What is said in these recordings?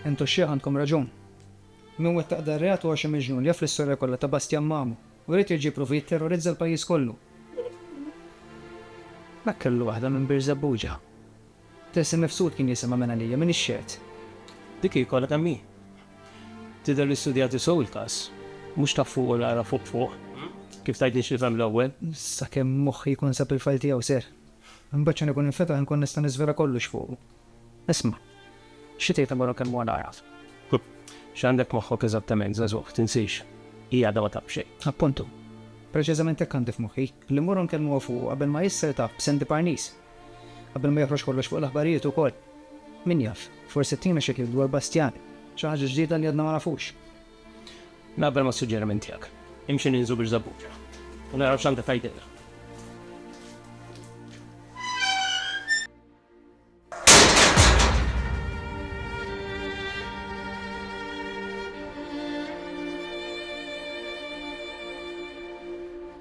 Intu x-xiħ għandkom raġun. Min wettaq dan reat huwa xi miġnun li jaf l-istorja kollha ta' Bastjan Mamu u jrid jerġa' jipprova jitterrorizza l-pajjiż kollu. Dak kellu waħda minn Birżebbuġa. Test imifsud kien jisimha minn għalija, minn ix-xehed. Dik hi kollha kemm hi. Tidher li studjati sew il-każ. Mhux ta' fuq u naqra fuq fuq, kif tgħidli x'nifhem l-ewwel. Sakemm moħħi jkun sab il-fajl tiegħu, sir. Imbagħad x'għan ikun infetaħ inkun nista' niżvela kollox fuqu. Isma', xi tgħid dwar kemm huwa l-għaraf? X'għandek f'moħħok eżattament, żagħżugħ? Tinsiex, hi għadha ma taf xejn. Appuntu. Preċiżament hekk għandi f'moħħi, li mmorru nkellmuha fuqu qabel ma jisser taf b'Sandy Parnis. Qabel ma joħroġ kollox fuq l-aħbarijiet ukoll. Min jaf, forsi ttina xi kliem dwar Bastiani, xi ħaġa ġdida li għadna ma nafux. Naqbel mas-suġġeriment tiegħek. Imxi ninżlu biex żabuġa u naraw x'għandha tgħidilna.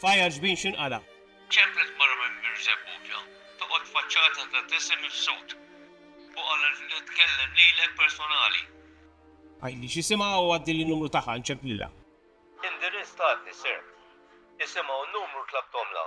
F'għajjar xbin x'inqala'. Ċemplet mara minn Birżebbuġa, toqgħod faċċata ta' t'isem ifsud, u qalet li tkellem lilek personali. Għidli x'isimha u għaddili n-numru tagħha nċemplilha. Indirizz t'għadni sirt. Isimha u n-numru tlabthomlha.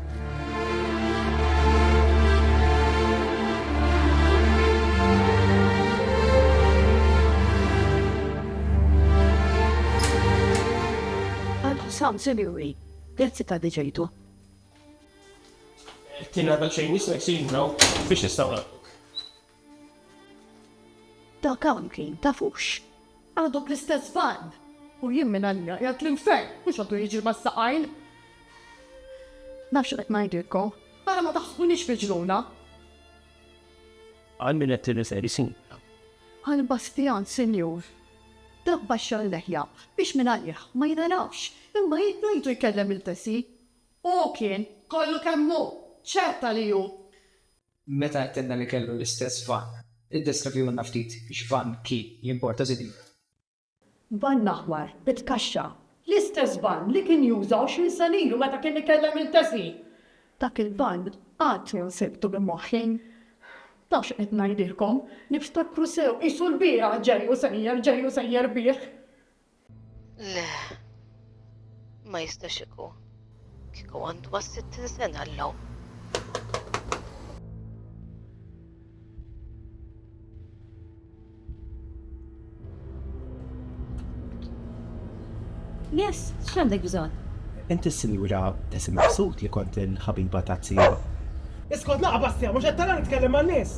Sam, sinjuri, grazzi ta' diġejtu. Tina ta' xejn nismek sinjura biex nistawna. Dak hawn kien, tafux? Għadu bl-istess barn! U jien minn għalija qiegħed l-infern, mhux għadu jiġri mas-saqajn! Naf x'qed ngħidilkom, ara ma taħsbunix miġnuna! Għal min qed tirreferi, sinjura? Għal Bastjan, sinjur. Dak baxxa l-leħja biex minn għalih ma jingħarafx, imma jien rajtu jkellem lil Tessie. Hu kien, kollu kemm hu, ċerta li hu! Meta għedtilna li kellu l-istess vann, iddeskrivihulna ftit x'vann kien li importa Zidin. Vann aħmar, bit kaxxa. L-istess vann li kien juża għoxrin sena ilu meta kien ikellem lil Tessie. Dak il-vann għad jien sibtu minn moħħi. Taf x'qed ngħidilkom, niftakru sew, qisu l-bieraħ ġej u sejjer, ġej u sejjer bih. Le, ma jistax ikun. Kieku għandu ma' 60 sena l-lum. Yes, x'għandek bżonn? Inti s-sinjura Tessi Maqsud li kont il-ħabiba ta' tzija. Iskot laqa Bastja, mhux qed tara nitkellem man-nies.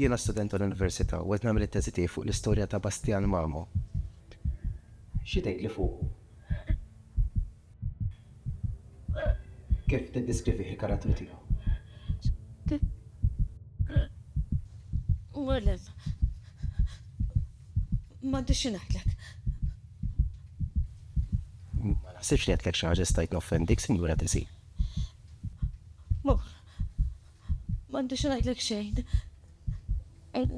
Jiena student tal-Università u qed nagħmel it-teżi tiegħi fuq l-istorja ta' Bastian Mamo. Xi tgħidli fuqu? Kif tiddiskrivih il-karattru tiegħu? Welleh, m'għandi xi ngħidlek. Ma naħsibx li għedtlek xi ħaġa li stajt noffendik, Sinjura Tesi. Mur. M'għandi xi ngħidlek xejn.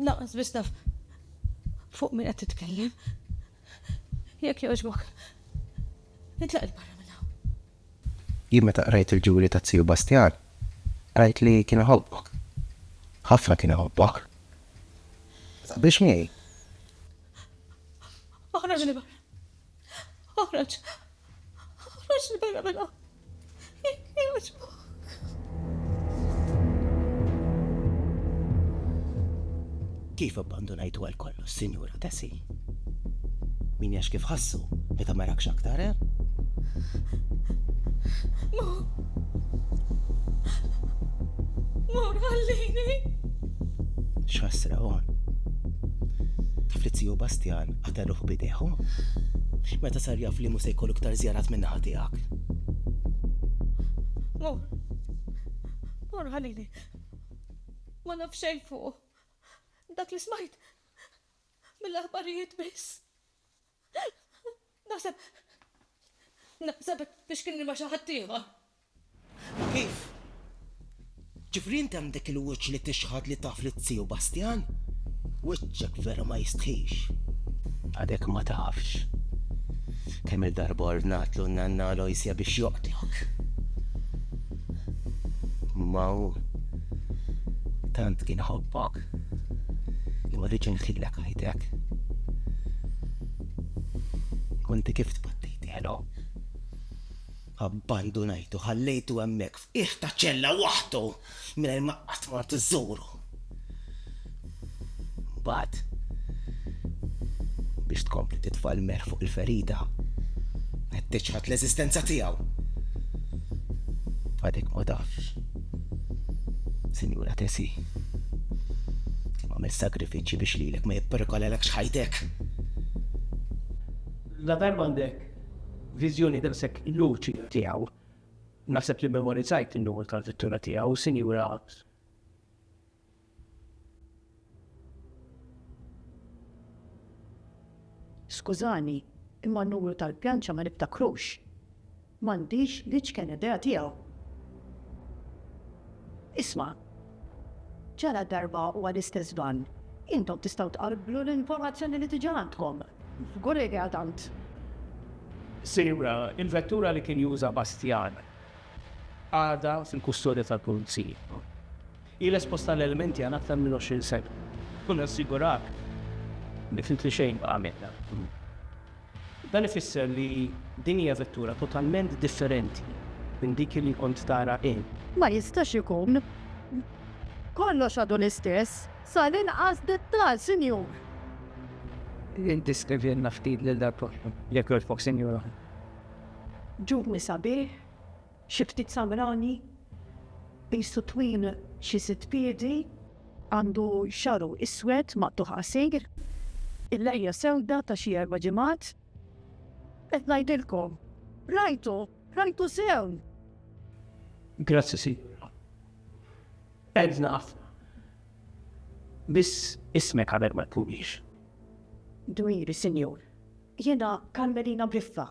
Lanqas biss naf fuq min qed titkellem. Jekk jogħġbok, itlaq 'il barra minn hawn. Jien meta qrajt il-ġuri ta' Zio Bastjan, qrajt li kien iħobbok. Ħafna kien iħobbok. Taqbilx miegħi? Oħroġ 'il barra! Oħroġ! Oħroġ li barra minn hawn! Jekk jogħġbok! Kif abbandunajtu għal kollox, Sinjura Tessi? Min jax kif ħassu meta ma rakx aktar, eh? Mo. Mo, ħallini. X'ħassra għon. Taf li Bastjan Qata' ruħu b'idejh, hu? Meta sar jaf li mhu se jkollu iktar żjarat min-naħa tiegħek? Mur. Mur ħalili. Ma naf xejn fuqu. Dak li smajt mill-aħbarijiet biss. Naħseb. Naħseb biex kien rima xi ħaddieħor. Ma kif? Ġifieri inti għandek il-wiċċ li tixħad li taf lit-Tiegħu Bastjan? Wiċċek vera ma jistħix. Għadek ma tafx kemm-il darba ordnatlu n-Nanna Aloysia biex joqtlok. Imma hu tant kien iħobbok li ma riedx imħilek ħajtek. U inti kif tbattejtielu? Abbandunajtu, ħallejtu hemmhekk f'qiegħ ta' ċella waħdu mingħajr ma qatt mort iżżuru. Mbagħad, biex tkompli titfa' l-melħ fuq il-ferita, qed tiċħad l-eżistenza tiegħu. Għadek ma tafx, Sinjura Tesi, kemm għamilt sagrifiċċji biex lilek ma jipperikolalekx ħajtek. La tajjeb għandek. Viżjoni daqshekk luċida tiegħu. Naħseb li mmemorizzajt in-numru tal-vettura tiegħu, Sinjura. Skużani, imma n-numru tal-pjanċa ma niftakrux. M'għandix l-iċken idea tiegħu. Isma'. Ġala darba u għall-istess għan, intom tistgħu tqabblu l-informazzjoni li diġà għandkom. Żgur li idea tant. Sinjura, il-vettura li kien juża Bastjan għadha fil-kustodja tal-Pulizija. Ilha esposta għal elementi għal aktar minn 20 sena u nassiguraw li ftit li xejn baqa' minnha. Dan ifisser li din hija vettura totalment differenti minn dik li kont tara int. Ma jistax ikun. Kollox għadu l-istess, sal-inqas dettall, Sinjur. Iddeskrivilna ftit lil dal-post, jekk jogħġbok, Sinjura. Ġubni sabiħ. Xi ftit samrani, qisu twil xi sitt piedi, għandu xagħru iswed maqtugħ qasir, il-lehja sewda ta' xi erba' ġimgħat. Qed ngħidilkom, rajtu, rajtu sew! Grazzi, Sinjura. Għedna ħafna. Biss ismek qabel ma tkunix. Dmiri, Sinjur. Jiena Karmelina Briffa.